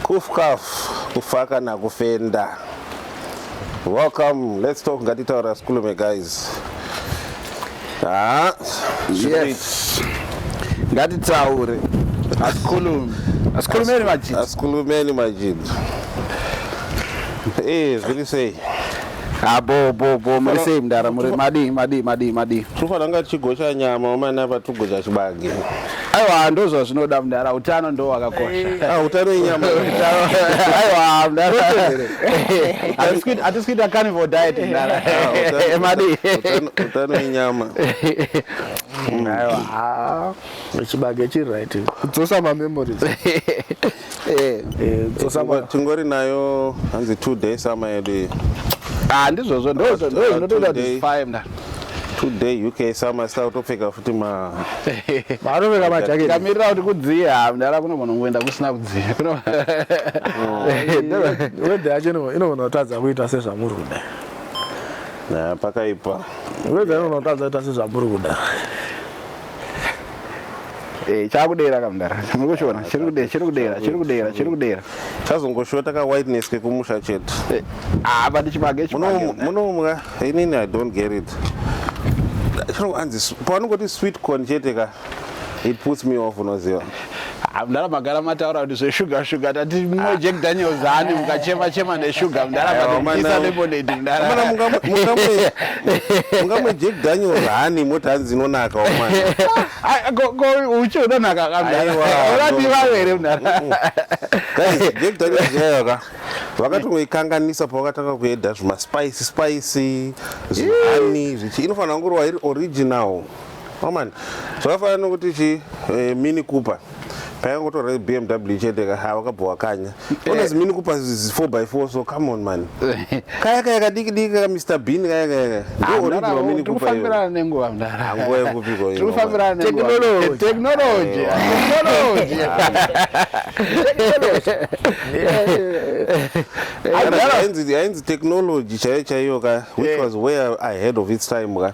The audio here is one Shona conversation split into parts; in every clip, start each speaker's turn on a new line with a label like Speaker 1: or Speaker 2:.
Speaker 1: kufkaf kufa kana kufenda welcome let's talk ngatitaura sikulume guys ah,
Speaker 2: yes. ngatitaure asikhulume asikhulumeni majid asikhulumeni majid
Speaker 1: eh zviri sei Ah, bo
Speaker 2: bo bo muri sei mdara muri madii madii madii madii Tinofanira kunge
Speaker 1: tichigosha nyama wamana apa togosha chibage. aiwa
Speaker 2: ndozvazvinoda mdara utano ndo wakakosha Ah, utano inyama.
Speaker 1: aiwa
Speaker 2: mdara Hatisi kuita- hatisi kuita carnival diet mdara utano- madii utano-
Speaker 1: utano inyama.
Speaker 2: aiwa Chibage chiri
Speaker 3: right. Kudzosa mamemories. eh,
Speaker 1: eh, eh tingori nayo hanzi two day sama yedu iyi ah ndizvozvo
Speaker 2: ndozvinotoita kuti five mna today uk
Speaker 1: sama sita kutopfeka futi ma
Speaker 2: vanopfeka majaketi kamirira kuti kudziye ha mdara kuno munhu ngoenda kusina kudziye
Speaker 3: wedhe yacho inogona kutadza kuita sezvamuri kuda pakaipa
Speaker 1: wedhe inogona kutadza
Speaker 3: kuita sezvamuri kuda
Speaker 2: Eh, chakudera kamdara muri kuchiona chiri kudera chiri kudera chiri kudera chiri kudera chazongoshota ka
Speaker 1: whiteness kekumusha chete eh, ah but
Speaker 2: chibage chibage munomwa
Speaker 1: inini i don't get it chinoanzi pavanongoti sweet corn chete ka it puts me off unoziva Ah, mdara
Speaker 2: magara mataura kuti zveshuga shuga tati mwe ah. jack daniels haani ah. mukachema chema neshuga mdara vatiisa lemonade mdaramungamwe
Speaker 1: jack daniels haani moti hanzi inonaka
Speaker 2: uchi unonaka kamdaurati vave here mdara
Speaker 1: jack daniels yayoka vakatongoikanganisa pavakatanga kueda zvimaspice spice zviani zvichi inofanira kungorwa iri original Oman zvakafanana nokuti chi eh, mini cooper paya ngotora bmw ichiendeka ha wakabva wakanya ones eh. mini cooper 4 by 4 so come on man kaya kaya kadiki diki ka mr bean kaya kaya ah, ndio original mini cooper tufambirana nenguva mdara
Speaker 2: nguva yekupiko ino
Speaker 1: tufambirana nenguva
Speaker 2: technology technology
Speaker 1: technology technology ainzi technology chaiyo chaiyo ka which eh. was way ahead of its time ka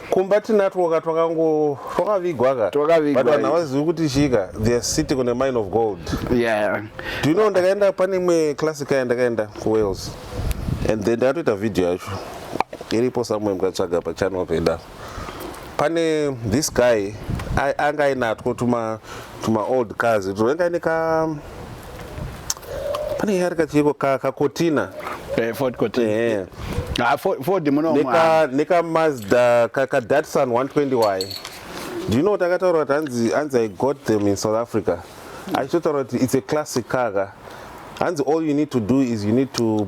Speaker 1: kumba
Speaker 2: tinatwoka
Speaker 1: twakango twakavigwa ka twakavigwa but vanhu havazivi kuti chika they are sitting on a mine of gold yeah
Speaker 2: do you know ndakaenda
Speaker 1: pane imwe classic aya ndakaenda kuwales and then ndakatoita video yacho iripo somewhere mukatsvaga pachannel peda pane this guy anga ainatwo tuma tuma old cars twainga ine ka pane nyaya yari kachiiko kakotina eh, ford
Speaker 2: kotina eh. ah, ford munomwa
Speaker 1: nekamazda kadatsun 120 waye do you know takataura kuti hanzi hanzi i got them in south africa achitotaura kuti it's a classic car ka hanzi all you need to do is you need to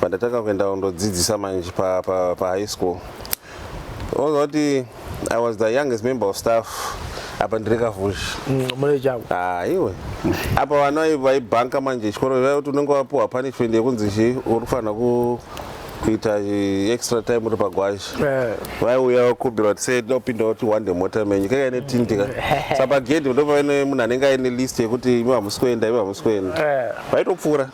Speaker 1: pandatanga kuenda kundodzidzisa manje pa, pa, pa high school oza kuti i was the youngest member of staff apa ndiri kavhuzhi mm, mune chavo
Speaker 3: ah, iwe
Speaker 1: apa vana vaibhanka manje chikoro vaiva kuti unenge wapiwa punishment yekunzi chi uri kufanira ku kuita extra time uri pagwazha eh. vaiuya vakumbira kuti sei tinopinda kuti wande mota menyu kaka ine tindi ka saka pagedhi ndopaine munhu anenge aine list yekuti imi hamusi kuenda imi hamusi kuenda eh. vaitopfuura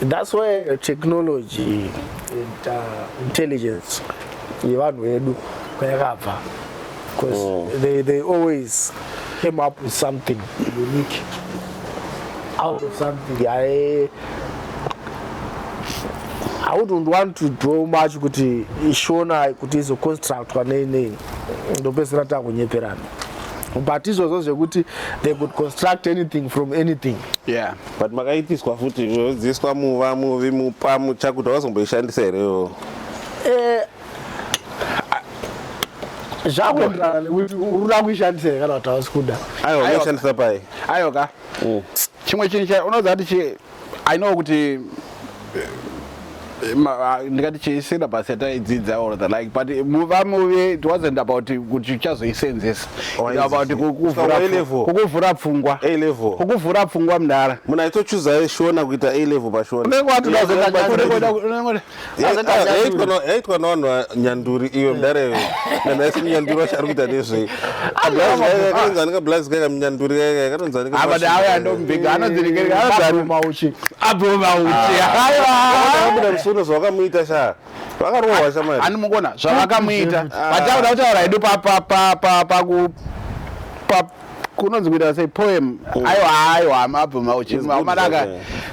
Speaker 3: That's why technology and uh, intelligence yevanhu vedu kwayakabva because oh. they, they always came up with something unique out of something I, I wouldn't want to draw much kuti ishona kuti izoconstructwa nei nei ndopedzisira takunyeperana but izvozvo zvekuti they could construct anything from anything yeah. but
Speaker 2: makaitiswa
Speaker 1: futi yodziiswa muva muvi mupa mucha kuti wazomboishandisa here iwo eh,
Speaker 3: zvakuenderana nekuti uruda kuishandisa here kana kuti hausi kuda aiwa unoshandisa pai
Speaker 1: aiwa ka mm.
Speaker 2: chimwe chinhu unoziva kuti i know kuti Ah, ndingati chii syllabus yataidzidza or the like but vamuve it wasn't about kuti uchazoisenzesa about kukuvhura pfungwa kukuvhura pfungwa mdara munhu aitochuza
Speaker 1: shona kuita a level pashonayaitwa navanhu vanyanduri iwe eh. mdara iwe kana asi munyanduri vachaari kuita nezvei ablazi kaika munyanduri kaika abada awe andombega
Speaker 2: anodzirekereka anozaruma uchi abvuma uchi
Speaker 1: aiwabuda musuno zvawakamuita sha vakarohwa shamari animukona zvavakamuita
Speaker 2: vataura kutaura hedu papapapapaku kunonzi kuita sei poem mm. aiwa aiwa mabvuma uchi mamadaka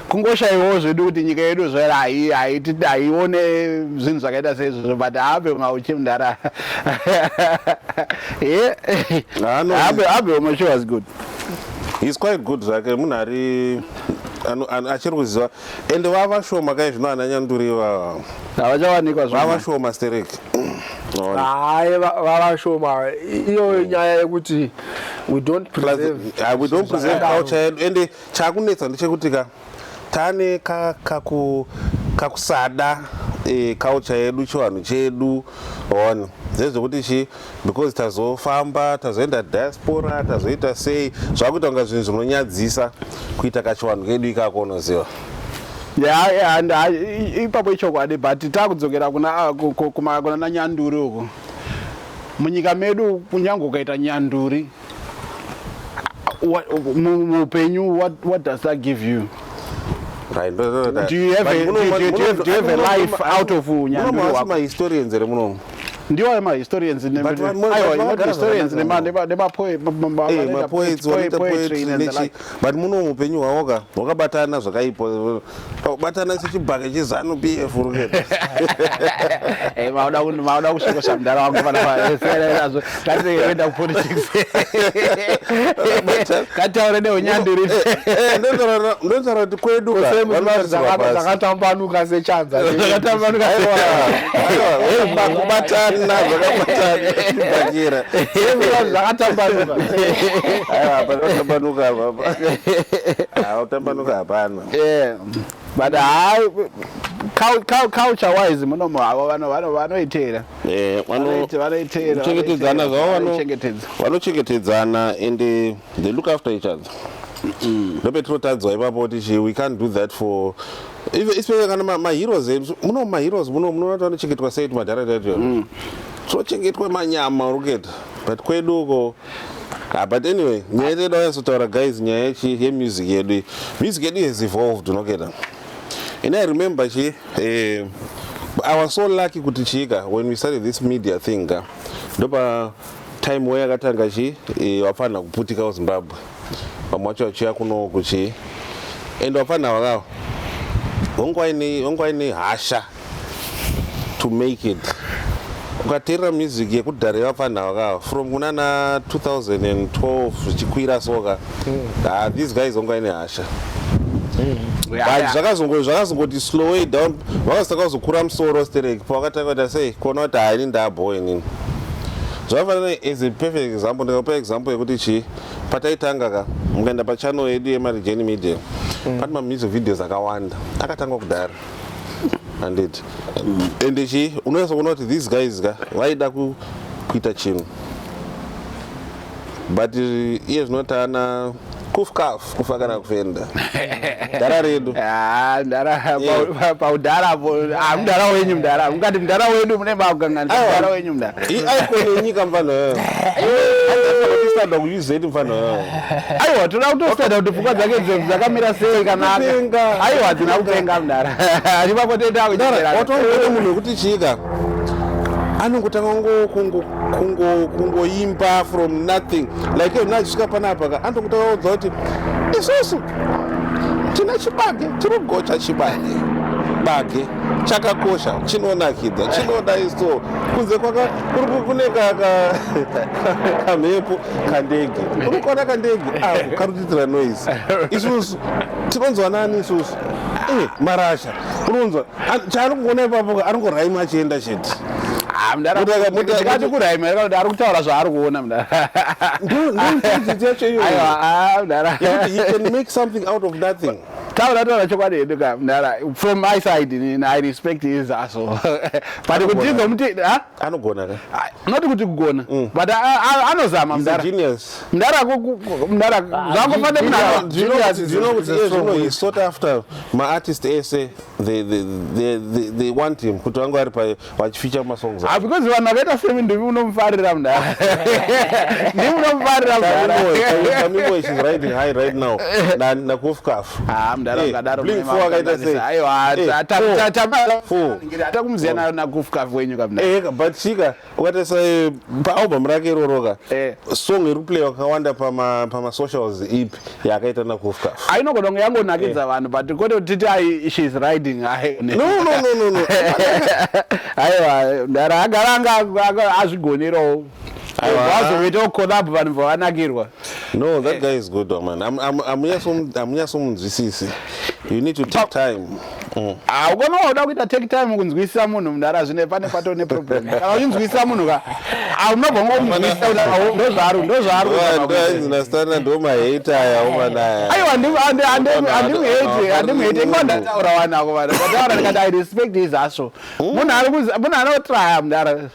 Speaker 2: kungoshaiwawo zvedu kuti nyika yedu zvera haione zvinhu zvakaita seizvozvo but habe kunga uchimdara habe umwe she was good he's quite
Speaker 1: good zvake munhu ari achiri kuziva ende vava shoma kai zvino ana nyanduri ivava havachawanikwa
Speaker 2: vava shoma
Speaker 1: sterek hayi
Speaker 3: vava shoma iyoyo nyaya yekuti we don't preserve uh, we don't preserve culture
Speaker 1: yedu ende chakunetsa ndechekuti ka tane kakusada ka e, culture yedu chivanhu chedu one zvezvekuti chi because tazofamba tazoenda diaspora tazoita sei zvakuita kunga zvinhu zvinonyadzisa kuita kachivanhu kedu ikako unoziva
Speaker 2: ipapo ichokwadi but takudzokera kunana nyanduri uko munyika medu kunyange ukaita nyanduri muupenyu what, what does that give you right
Speaker 1: no, no, no, do you have,
Speaker 2: a, do, do, do, do, have, do you have a life out of nyandumahistorians here
Speaker 1: munomu ndiwo ayo
Speaker 2: mahistorians nemapoets
Speaker 1: but muno mupenyu hwavo ka hwakabatana zvakaipa batana sechibhake chezanu p f eh,
Speaker 2: maoda kusvikosa mudhara wangu panaazvo katienda kupolitics kataure neunyandiri eh, eh,
Speaker 1: ndotaura kuti kwedu ka
Speaker 3: Ukase chanza. Zvakatambanuka.
Speaker 1: Kubatana zvakabatana. Bakira.
Speaker 3: Zvakatambanuka. Aiwa apa zvakatambanuka apa.
Speaker 1: Ah, utambanuka hapana. Eh. But
Speaker 2: hai culture wise muno muhavo vano vano vanoitera. Eh, vano vanoitera.
Speaker 1: Chengetedzana zvavo vano. Vanochengetedzana ende they look after each other ndopetinotadzwa ipapo tichi we can't do that for especially kana maheroes edu muno maheroes muno munoona tavanocheketwa sei tumadhara taito mm. tinochengetwa manyama uriketa but kwedu uko Ah, but anyway nyaya yedu yedu ayanzotaura guys nyaya yechi yemusic yedu music yedu has evolved unoketa and i remember chi eh, i was so lucky kuti chiika when we started this media thing ka ndopa time way yakatanga chi eh, vafanha kuputika kuzimbabwe vamwe vacho vachiuya kuno kuchi and vafanha vakavo vangwaine hasha to make it ukateerera music yekudhara yevafanha vakavo from kunana 2012 zvichikwira soka ah these guys hongu aine hasha but zvakazongoti zvakazongoti slow way down vakazotanga kuzokura musoro sterek pavakatanga kuita sei kuona kuti haini ndabho inini zvakafanana as a perfect example ndikakupa example yekuti chii pataitanga ka mukaenda pachannel yedu yemarijeni media mm. pane mamusic videos akawanda akatangwa kudaro handiti mm. ende chii unonyasokuona kuti these guys ka vaida kuita chinhu but iye zvino taana kufkaf kufa kana kufenda dara redu ah, eh. paudhara
Speaker 2: ah, mudhara wenyu mudhara mukati mudhara wedu mune makukanganidhara wenyu mudharaikonenyika
Speaker 1: mfana yoyoada kuuzet mfana yoyo aiwa toda
Speaker 2: kutosada kuti pfungwa dzake dzeu dzakamira sei kanaenga aiwa dzina kutenga mudhara ipapo toita kuchitera watoona
Speaker 1: munhu wekuti chiika anongotanga ngo kungo kungoimba from nothing like yona achisvika panapa ka andokuta vaudza kuti isusu tine chibage tinogocha chibage bage chakakosha chinonakidza chinoda iso kunze kwaka kune kamhepo kandege uri kuona kandege ako karutidzira noise isusu tinonzwa nani isusu eh, marasha unonzwa chaari kuona ipapo aringoraima achienda chete ah, mudaraati
Speaker 2: kuraima yakakuti ari kutaura zvaari kuona mudaraaiwa
Speaker 1: ah, mudara taura taura chokwadi
Speaker 2: hedu ka mdara from my side i respect his aso but kuti izomuti ah? anogona ka
Speaker 1: ah, not kuti kugona
Speaker 2: mm. but ah, ah, anozama mdara mdara mdara zvangofane munazvinoizvinohe
Speaker 1: sought after maartist ese they want him kuti vange vari pa vachificha masongs ah because vanhu vakaita semi
Speaker 2: ndimi unomufarira mdara ndimi unomufarira mdaraamiboy she's
Speaker 1: riding high right now nakofkafu ah mdara eh,
Speaker 2: ungadaro mdara akaita sei aiwa eh, tamaa hata kumuziva na, na kufka wenyu kamna eh but chika
Speaker 1: ukatarisa eh, pa album rake iroro ka eh. song iri play wakawanda pa ma pa ma socials ipi yakaita na kufka ainogona kunge yangonakidza
Speaker 2: eh. vanhu but kote titi ai she is riding ai no no no no no aiwa ndara agaranga azvigonerawo vazoita collab vanhu vavanakirwa No, that eh. guy
Speaker 1: is good, man. I'm, I'm, I'm here some, I'm here some zvisisi. You need to take time. Mm. Ah, ukona
Speaker 2: wauda kuita take time kunzwisisa munhu mudhara zvine pane pato ne problem. Kana uchinzwisisa munhu ka, ah unobva ngomunzwisisa kuti ndo zvaari, ndo zvaari. Ndo ndastana
Speaker 1: ndo ma hater aya uma naye. Ayo andi andi
Speaker 2: andi andi hate, andi hate. Ingo ndataura wana ko vana. Ndataura ndikati I respect his hustle. Munhu ari munhu anotry mudhara.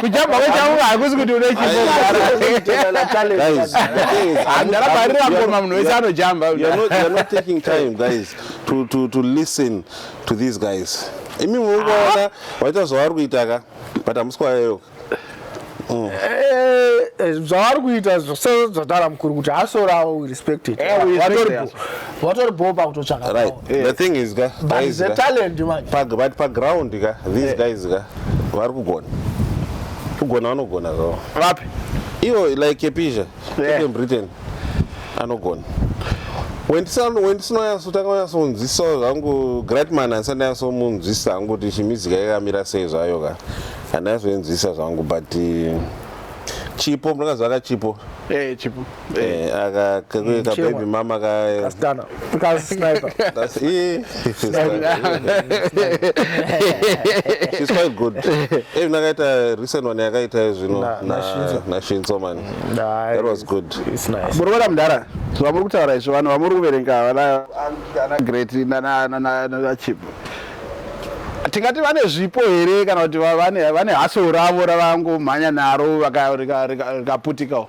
Speaker 3: kujamba kwechaunga hakusi kuti unechipoandarabarira
Speaker 2: ngoma munhu wese anojamba
Speaker 1: to these guys imi muungaona ah. waita zvavari kuita ka but hamuswayeyoka mm. eh,
Speaker 3: eh, zvavari kuita zvose zvadara mukuru kuti hasorawo respected eh, watori bho pakutotsvaka right yeah. the thing is
Speaker 1: ka but is the talent
Speaker 3: man pa but pa ground
Speaker 1: ka these yeah. guys ka vari kugona kugona vanogona zvawo vapi ivo like kepisha yeah. in britain anogona wendisinoyasotanga kunyasonzwisa zvangu gratman andisandayasomunzwisa hangu kuti chimizika yakamira sei zvayo ka handayasoinzwisa zvangu but eh, chipo mnakazvaka chipo eh, chipo
Speaker 2: Eh, aka ka-
Speaker 1: Mm, ka chemwa. baby mama ka Kasikana.
Speaker 3: Kasniper. that's eh, it's quite-
Speaker 1: it's quite good eh nakaita recent one yakaita zvino Na- na Shinzo. na Shinzo man Nah, that was good It's nice. muri kuona
Speaker 3: mudhara
Speaker 2: vamuri kutaura izvo vanhu vamuri kuverenga vana ana great nana- nana- nana chip tingati vane zvipo here kana kuti va- vane vane haso ravo ravangomhanya naro vaka- rika- rika- rikaputikawo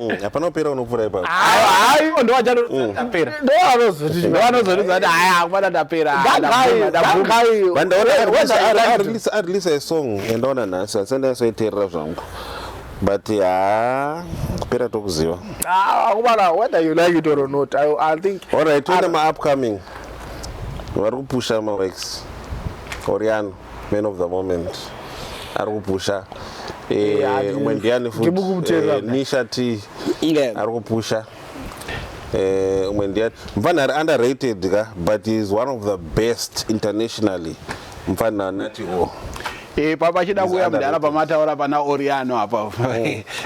Speaker 1: Mm, hapana kupera unokuvura ipapo aiwa ndowachatapera mm. ndoanozoti ndoanozoti zati haya akubata tapera vandaonaarelease arelease a song yandaona nhasi asi andaisoiterera zvangu but haa kupera tokuziva akubata ah,
Speaker 3: whether you like it or not i, I think alright toenda maupcoming
Speaker 1: vari kupusha mawex oriano man of the moment ari kupusha Eh, Eh, hadi- umwe ndiani futi Ndibu kumuteerera. Eh, nisha t Yeah. ari kupusha Eh, umwe ndiani mfana ari underrated ka but he is one of the best internationally mfana nati o Eh, pa-
Speaker 2: pachida kuuya mudhara pamataura pana oriano apa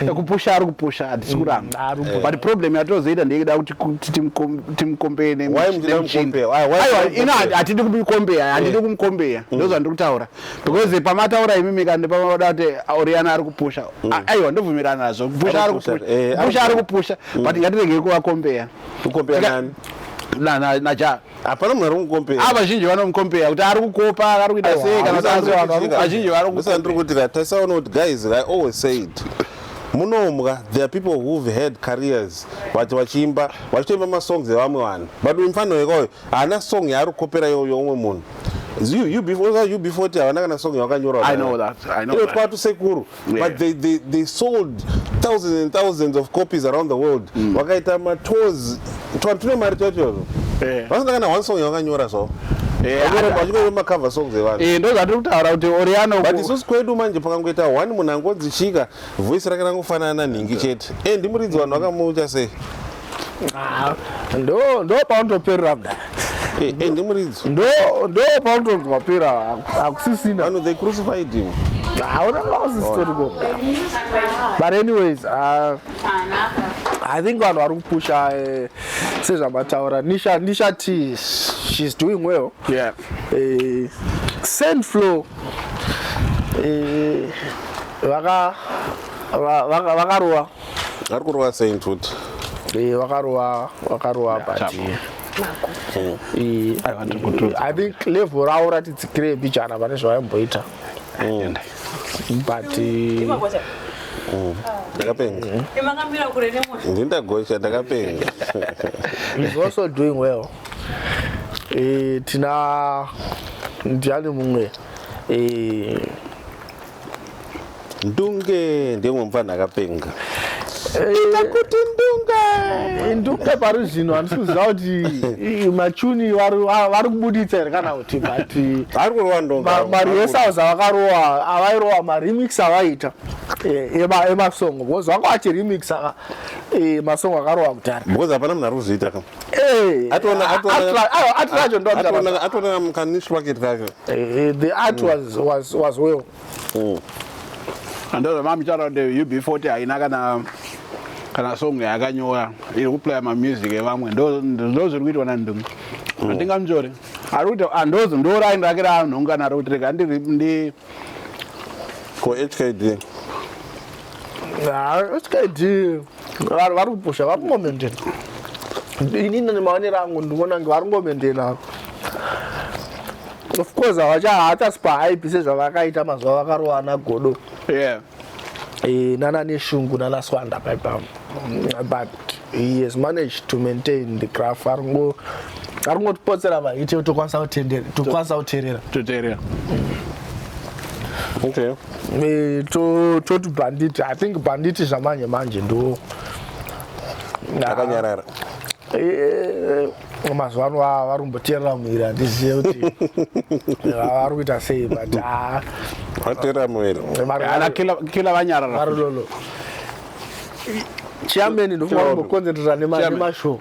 Speaker 2: ekupusha ari kupusha hatisi kuramba but problem yatozoita ndeyekuda kuti ku- timu- timukombeye ne- Why muchida nemuchini. kumukombeya? Why- why Aiwa, muchida ino kumukombeya? hatidi kumukombeya handidi kumukombeya ndozvandiri kutaura because pamataura imimi kana pamada kuti oriana ari kupusha A- aiwa ndobvumirana nazvo kupusha ari kupusha, eh, ari kupusha ari kupusha but ngatiregei kuvakombeya Kukombeya Tika- nani? na- na- naja hapana munhu ari kumukompera
Speaker 1: ava vazhinji vanomukompera
Speaker 2: kuti ari kukopa ari kuita sei kana kuti vanhu vari vazhinji vari kukompera ndiri kuti
Speaker 1: taisaona kuti guys i always said munombwa there are people who've had careers vati vachiimba vachitoimba masongs evamwe vanhu but uyu mufana wekayo haana song yaari kukopera iyo youmwe munhu ub40 havana kana song yavakanyoraotwatu sekuru yeah. but they, they, they sold thousands and thousands of copies around the world mm. vakaita mm. matours twanhu tune mari twacho yeah. vasina kana one song yavakanyora zvavo vachikovemakava song dzevanhu eh, ndo zvatiri kutaura kuti
Speaker 2: oriano but isusu kwedu manje
Speaker 1: pakangoita one munhu angonzi chika voice rake rangofanana nhingi chete e eh, ndimuridzi vanhu vakamucha sei ndo
Speaker 3: ndo paunotoperera kudai eh, eh, ndimuridzo
Speaker 1: ndo
Speaker 3: ndo paunotonzi wapera hakusisina vano they crucified
Speaker 1: him hauna vausisitoriko
Speaker 3: but anyways uh, i think vanhu vari kupusha eh, sezvamataura nisha nisha t she's doing well yeah. uh, sand flow vaka vaka vaka roa ari kurova
Speaker 1: sei futi eh, wakarova
Speaker 3: wakarova pati eh, i think level ravo ratitsikire bichana pane zvavaimboita mm. but mm.
Speaker 1: ndakapenga mm. ndindagocha ndakapenga
Speaker 3: is also doing well eh, tina ndiani mumwe eh,
Speaker 1: Ndunge ndimwe mupfanhu akapenga. Ita
Speaker 3: eh, kuti ndunge. Eh, ndunge pari zvino handisi kuziva kuti eh, machuni vari kubuditsa here kana kuti but vari kurova ndunge.
Speaker 1: Mari yesauza
Speaker 3: vakarowa avairowa maremix avaita emasongo because vanga vachiremix masongo akarowa kudhara. Because hapana munhu ari kuzviita
Speaker 1: kama. Hey, atona atona atona ndo atona atona mkanish wake kacho eh, the art mm.
Speaker 3: was was was well mm. and
Speaker 2: those mama chara the UB40 haina kana kana song yakanyora iri kuplaya mamusic evamwe ndo ndo zviri kuitwa na ndungu mm. andinga mjore ari kuti andozo ah, ndo line rake ra nhunga naro kuti rega ndi ndi
Speaker 1: ko HKD Ah,
Speaker 3: HKD Vari vari kupusha vari kungomendena. Ini nemaonero angu ndinoona kunge vari kungomendena avo. Of course havacha havatas pahype sezvavakaita mazuva vakarowana godo. Yeah. Eh, nana neshungu nana swanda paipa but he has managed to maintain the graph ari kungo ari kungotipotsera vahite tokwanisa kutendera tokwanisa kuterera Tuteria.
Speaker 1: Okay. Eh,
Speaker 3: toti banditi i think banditi zvamanje manje ndo akanyarara
Speaker 1: eh, eh,
Speaker 3: mazuva ano vari kumboteerera muiri handizive kuti vari kuita sei but ah. vateerera
Speaker 1: muirikila
Speaker 2: vanyarara
Speaker 3: chiyameni ndofunga kumbokonzentrera nemashow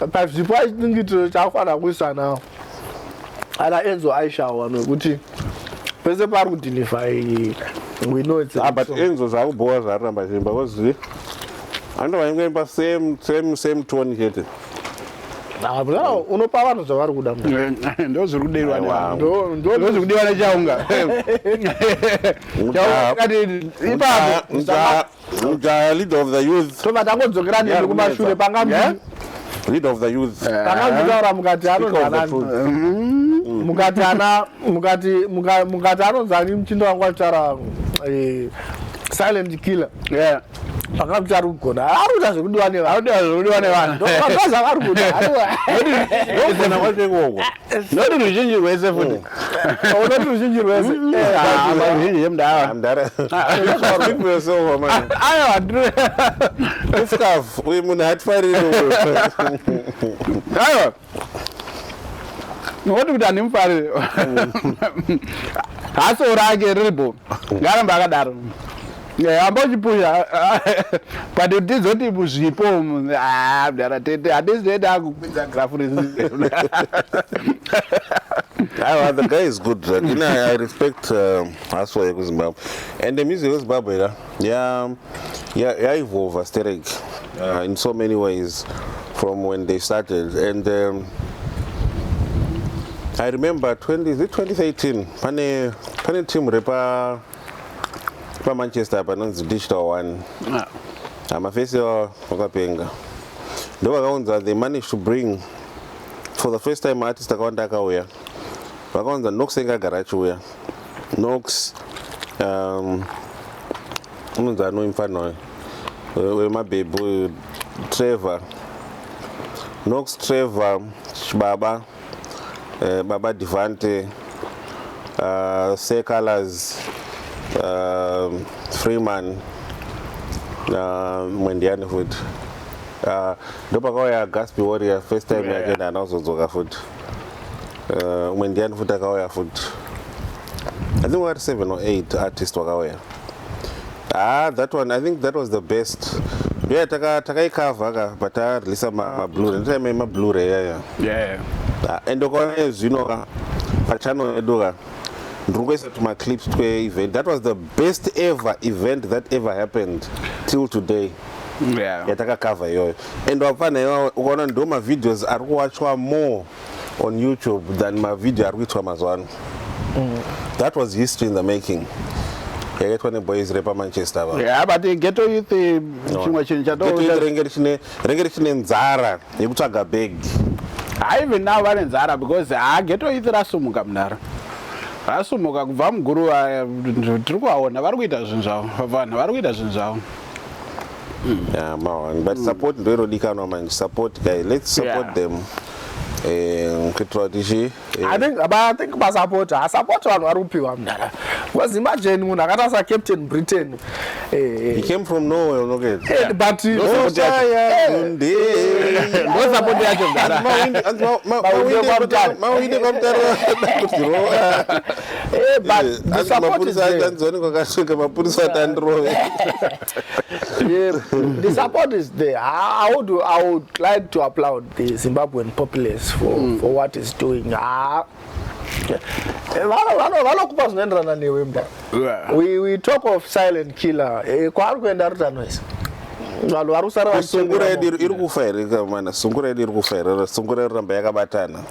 Speaker 3: but zvipo i think it chakufanira kuisa nawo ana enzo aishawo vanhu vekuti pese pari kudinifai we know it's ah, but enzo zvakubhowa
Speaker 1: zvaramba chimba kozi ando vaingoimba same same same tone chete
Speaker 3: unopa vanhu zvavari kuda ndo zviri
Speaker 2: kudeirwanozviri kudiwa nechaunga chaunga kati ipapo
Speaker 1: Mujaya leader of the youth. Tobva tangodzokera nemi
Speaker 3: kumashure panga yeah?
Speaker 1: leader of the youth. Eh. Panga mutaura mukati
Speaker 3: anozanani. Mm. Mukati ana mukati mukati anozani mchindo wangu achara eh, silent killer. Yeah. vakakuti ari kugona ari kuita zvekudiwa nevanhu ari kudiwa zvekudiwa nevanhu ndokaza vari kuda anogona kwacho ikoko
Speaker 2: noti ruzhinji rwese futi unoti
Speaker 3: ruzhinji rwese ruzhinji
Speaker 2: yemudava ifkaf
Speaker 1: uyu munhu hatifariri
Speaker 2: aiwa noti kuti handimufariri haso rake riribo ngaramba akadaro Eh, amba uchipusha but tizoti muzvipo ah, mdara tete hatisi toenda akupinza grafu reziona
Speaker 1: Awa, the guy is good. Like, you know, I I respect uh, Aswa yeku Zimbabwe. And the music of Zimbabwe, yeah, yeah, yeah, yeah evolve aesthetic uh, in so many ways from when they started. And um, I remember 20, is it 2013? Pane, pane team repa pamanchester apa anonzi digital one ah. hamafesi ivava vakapenga ndo vakaunza they manage to bring for the first time artist akawanda akauya vakaunza nox enge agara achiuya nox um, unonzi anoi mfana uyo wemabhebhu trevor nox trevor chibaba uh, baba devante uh, secolors uh, freeman uh, mwendiani futi uh, ndopakauya gaspi warrior first time yake yeah. ndaanazodzoka futi uh, mwendiani futi akauya futi i think wari 7 or 8 artist wakauya Ah, that one I think that was the best. Yeah, taka takaikavha ka but ta release ma, ma Blu-ray. Ndita ma ma Blu-ray yeah yeah. Yeah. Ah, and ukaona zvino ka pa channel yedu ka ndiri kuisa tuma clips twe event. That was the best ever event that ever happened till today. Yeah. yatakakavha iyoyo and wapana iwawo ukaona ndo mavideos ari kuwachwa more on youtube than mavhidhiyo ari kuitwa mazuva ano mm. that was history in the making yakaitwa neboys repamanchester ava yeah, but eh, geto
Speaker 2: youth eh, chimwe chinhu chatorenge
Speaker 1: richine nzara yekutsvaga bag haive
Speaker 2: now vane nzara because ha ah, geto youth rasumuka mudaro rasumuka kubva muguruva eh, tiri kuvaona vari kuita zvinhu zvavo vanhu vari kuita zvinhu zvavo mm.
Speaker 1: yeah, mawan but mm. support ndo inodikanwa manje support guy let's support yeah. them eh,
Speaker 3: kuitira kuti chi eh. i think but i think basupport asupport vanhu vari kupiwa mdara because imagine munhu akatarisa captain britain he came
Speaker 1: from nowhere unokeza but
Speaker 2: ndosupport yacho mdara mawindi kwamutara
Speaker 3: Eh, but Eh, the asi support is mapurisa there. achanzwani kwakasvika mapurisa ati andirove Yeah, the support is there. I, I would I would like to applaud the Zimbabwean populace for, for what is doing. Ah, eh, vano- vano- vanokupa zvinoenderana newe mda we, we talk of silent killer Eh, kwaari kuenda ari tanoisa vanhu vari kusara sungura yedu vachichengera iri- iri kufa here kamana sungura yedu iri kufa here sungura iri ramba yakabatana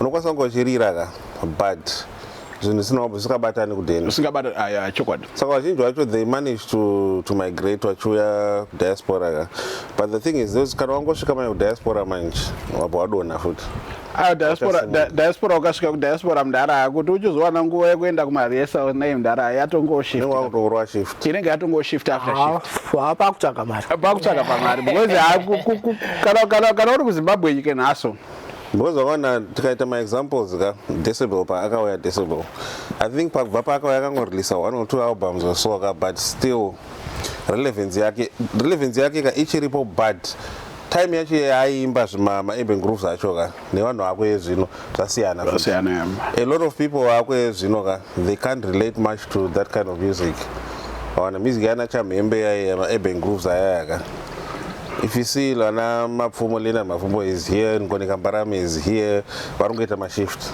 Speaker 1: unokwanisa kunge uchirira ka but zvinhu zvisina zvisikabatani kudeni zvisingabata aya chokwadi
Speaker 2: saka vazhinji vacho
Speaker 1: they manage to, to migrate vachiuya kudiaspora ka but the thing is this kana wangosvika manje kudiaspora manje wabva wadona futi ayo diaspora
Speaker 2: di- diaspora ukasvika kudiaspora mdara aya kuti uchizowana nguva yekuenda kumaresa nei mdara aya yatongoshift inenge wakutourwa
Speaker 1: shift inenge yatongoshift
Speaker 2: after shift haapakutsvaga mari
Speaker 3: pakutsvaga pamari because
Speaker 2: ha- ku- ku- ku- kana- kana kana uri kuzimbabwe nyike nhaso because wakaona
Speaker 1: tikaita maexamples ka decibel paakauya decibel i think pakubva paakauya akangoreleasa one or two albums or so ka but still relevance yake relevance yake ka ichiripo but time yacho yaaiimba zvimamaeben groves acho ka nevanhu vako ezvino zvasiyana a lot of people vako ezvino ka they can't relate much to that kind of music awana music yana chamhembe yaye maurban grooves ayayaka if you see lana mapfumo lena mapfumo is here ngoneka mbarame is here vari kungoita mashift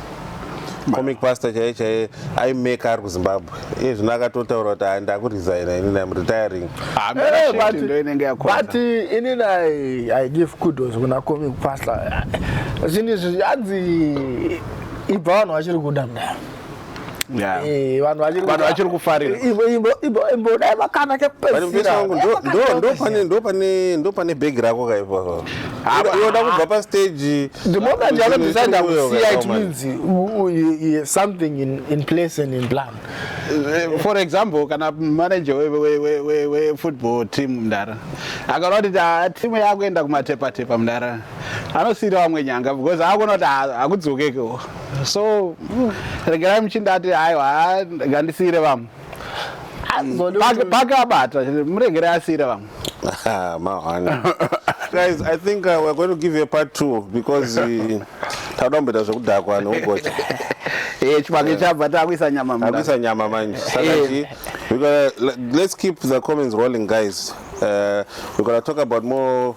Speaker 1: comic pastor chaiye chaiye aimeka ari kuzimbabwe iye zvino akatotaura kuti haa ndakuresigna inini am retiring
Speaker 3: but inini i give kudos kuna comic pastor zvinhu izvi hanzi ibva vanhu vachiri kuda mdai Eh, vanhu
Speaker 2: vachiri kufarira imbodai
Speaker 3: makana kepesirandopane
Speaker 1: bhegi rako kaipoda kubva pastage the moment yako
Speaker 3: decide kusiya it means something in, in place and in plan eh, for
Speaker 2: example kana manager wefootball team mdara akaona kuti ah, timu yakuenda kumatepatepa mdara anosiira vamwe nyanga because akuona kuti ah, hakudzokekeo so regerai muchindati aiwa ngandisiire vamwe pakabata muregere asiire vamwe
Speaker 1: guys i think uh, we're going to give you a part two because uh, tauda kumboita zvekudhakwa neugocha eh, chivange
Speaker 2: chabva takuisa nyama akuisa nyama manje
Speaker 1: saka eh. let's keep the comments rolling guys Uh, we're gonna talk about more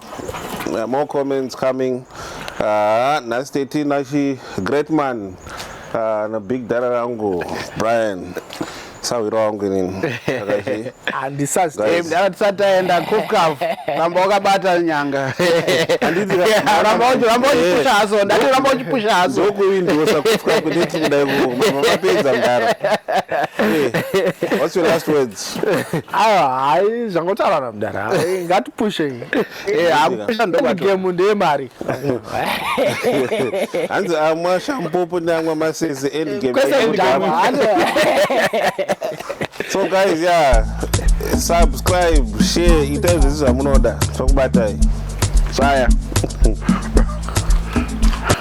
Speaker 1: uh, more comments coming. Uh, nice to see Nashi, great man, uh, and a big dada rangu, Brian. sawiro wangu inini
Speaker 3: andisataenda
Speaker 2: kukaf ramba wakabata nyanga ramba wachipusha haso ndati ramba wachipusha haso ndokuindosa kufka
Speaker 1: kudeti kudai kuku mapedza mdara what's your last words awa hayi
Speaker 3: zvangotaurana mudara ngatipushe
Speaker 2: gemu ndeye
Speaker 3: mari
Speaker 1: hanzi amwa shampopo neamwa masese so guys ya subscribe share itai zvese zvamunoda tokubatai zvaya